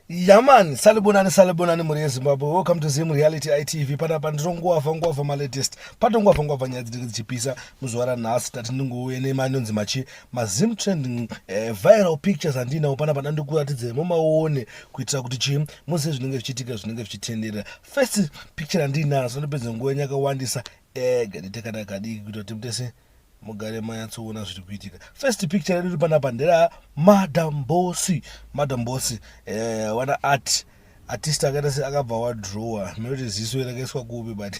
yaman salibonani salibonani mhuri yezimbabwe welcome to zim reality itv panapa ndinonguwavha nguwavha malatest patonguwavha nguwavha nyaya dzinenge dzichipisa muzuva ranhasi tati ndingouye nemanonzi machi mazim trending eh, viral pictures andinawo pana pana ndikuratidze mumaone kuitira kuti chii muzive zvinenge zvichiitika zvinenge zvichitenderera first picture andinazo ndopedza nguva yenyu yakawandisa ega eh, nditekana kadiki kuita kuti mutese mugare manyatsoona zviri kuitika first picture redu riri panapa ndera madam bosi madam bosi eh, wana art artist akaita se akabva wadrowa nekuti ziso rakaiswa kupi but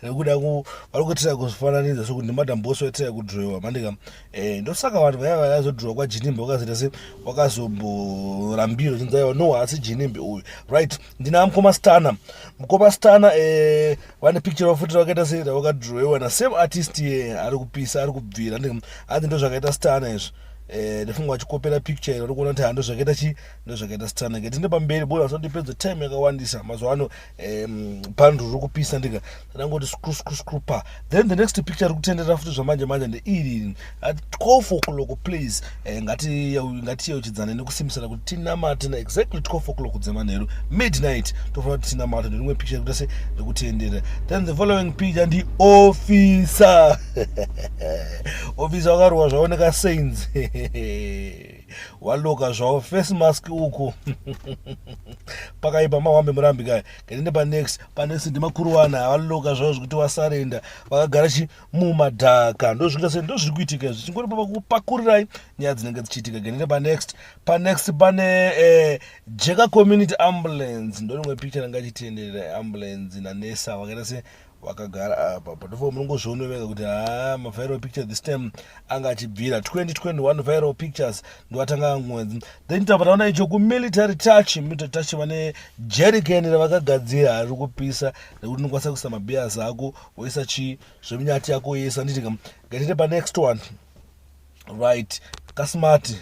rekuda vari kuitira kufananidza sokuti ndimadamboso aitira kudrowa mandika eh, ndosaka vanhu vaya vayazodrowa kwajinimbe wakazoita se wakazomborambira uchinzi aiwa no haasi jinimbe uyu right ndina mukoma stana mukoma stana eh, vane picture vafuti vakaita se vakadrowewa na same artist ye ari kupisa ari kubvira anzi ndozvakaita stana izvi eh, ndifunga vachikopera picture iri kuona kuti hando zvakaita chi ndozvakaita sitana ke tinde pamberi bora zvandipedza time yakawandisa mazuva ano um, pandro riri kupisa ndika ndangoti screw screw screw pa then the next picture riri kutendera futi zvamanje manje ndeiri at call for clock please eh, ngatiyeuchidzane nekusimisana kuti tinamate na exactly call for clock dzemanheru midnight tofanira kuti tinamate nerimwe picture rikuita se rekutendera then the following picture ndi officer officer wakarowa zvaoneka sains waloka zvawo face mask uko pakaipa mawambe murambi kaya kanende panext panext ndimakuruwana havaloka zvavo zvekuti vasarenda vakagara chi mumadhaka ndozvinga se ndozviri kuitika izvi chingori papakupakururai nyaya dzinenge dzichiitika kanende panext panext pane eh, jeka community ambulance ndorimwe picture ranga chitenderera ambulance nanesa vakaita se wakagara apa but for munongozviona vega kuti haa maviral picture this time anga achibvira 2021 viral pictures ndiwatanga angonzi then tabva taona icho kumilitary touch military touch vane jerikeni ravakagadzira hari kupisa rekuti unokwanisa kuisa mabeers ako woisa chii zveminyati yako yese anditi kam ngaitete panext one right kasmart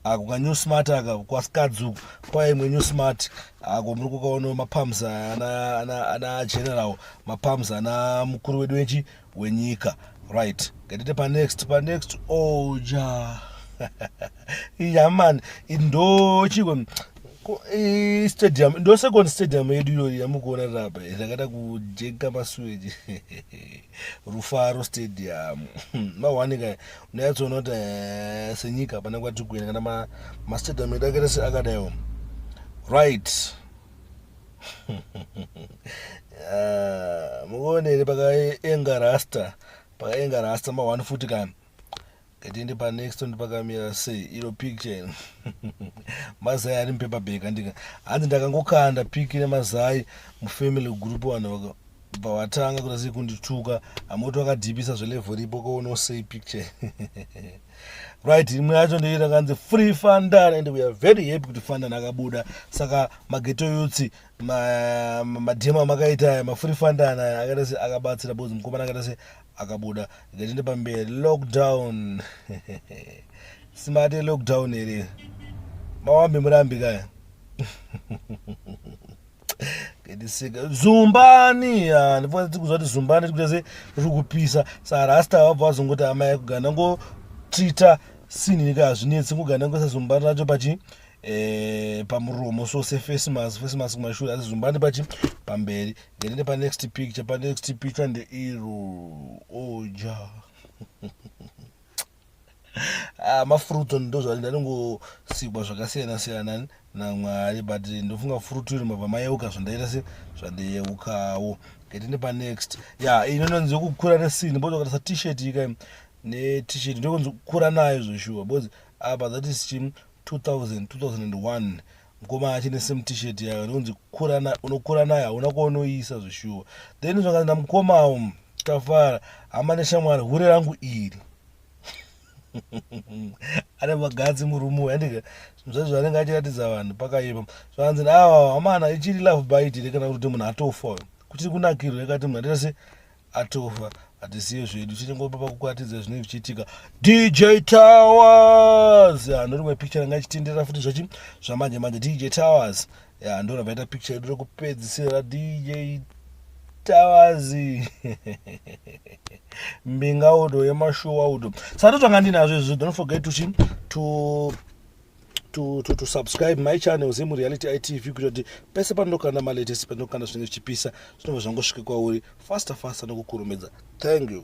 ako ka new smart aka kwasikadzi uku kwaimwe new smart ako muri kukaona mapams ana general mapams ana mukuru wedu wechi wenyika right ngatite panext panext oja oh, yaman ndochiko stadium ndosecond stadium yedu iyoyi yamukuona rapa yakaita kujeka masuweji rufaro stadium mawanika unayatsoona kuti eh, senyika hapana kwati kuenda kana mastadium edu akaita se akadaiwo right ah, mukuonere pakaenga rasta pakaenga rasta ma one futi kani ngatiende panext one pakamira sei iro picture ino mazai ari mupepa bag andika hanzi ndakangokanda piki nemazai mufamily group vanhu vaka pawatanga kuda sei kundituka amoti wakadhipisa zvelevel ripo kouno sei picture right imwe yacho ndei rakanzi free fandan and weare very happy kuti fandan akabuda saka mageto yutsi madhema makaita aya mafree fandan aya akaita se akabatsira bozi mukomana akaita se akabuda ngatiende pamberi lockdown simati lockdown here mawambi murambi kaya ngetisika zumbani ndifana tikuzwa kuti zumbani tikuita se ri kupisa sarasta vabva vazongoti amai kugana ngotreata sinini ka hazvinetsi kugana ngoisa zumbani racho pachi eh, pamuromo so sefacemask facemask kumashure asi zumbani pachi pamberi Ndirinde pa next picture, pa next picture nde iru oja. ah, mafruit on ndo zvali ndaringosikwa zvakasiyana siyana naMwari but ndofunga fruit iri mabva mayeuka zvandaita se zvandeyeukawo. Ndirinde pa next. Ya, yeah, ino nonzi yokukura resini bodo katasa t-shirt ika ne t-shirt ndokunzi kura nayo zveshuwa because apa that is chim 2000 2001 mukoma achine same t-shirt yayo ndonzi unokura nayo hauna kwaunoiisa zvishuwa then zvakanzi namukomawo tafara hama neshamwari hure rangu iri ane magadzi murume uyu andika zvaizvo anenge achiratidza vanhu pakaipa zvakanzi awa hamana ichiri love bite here kana kuti munhu atofa uyo kuchiri kunakirwa yakati munhu ataita se atofa hatisiye zvedu tichingopa pakukwatidza zvinenge zvichiitika dj towers ya ndo rimwe picture ranga ichitenderera futi zvachi zvamanje manje dj towers ya ndo ravaita picture yedu rekupedzisira dj towers mbinga udo yemashuwa udo saka tozvanga ndinazvo izvozvo don't forget to to to, to, to subscribe my channel zemu reality itv kuita kuti pese panokanda malatest panokanda zvinenge zvichipisa zvinobva zvangosvike kwauri faster faster nokukurumidza thank you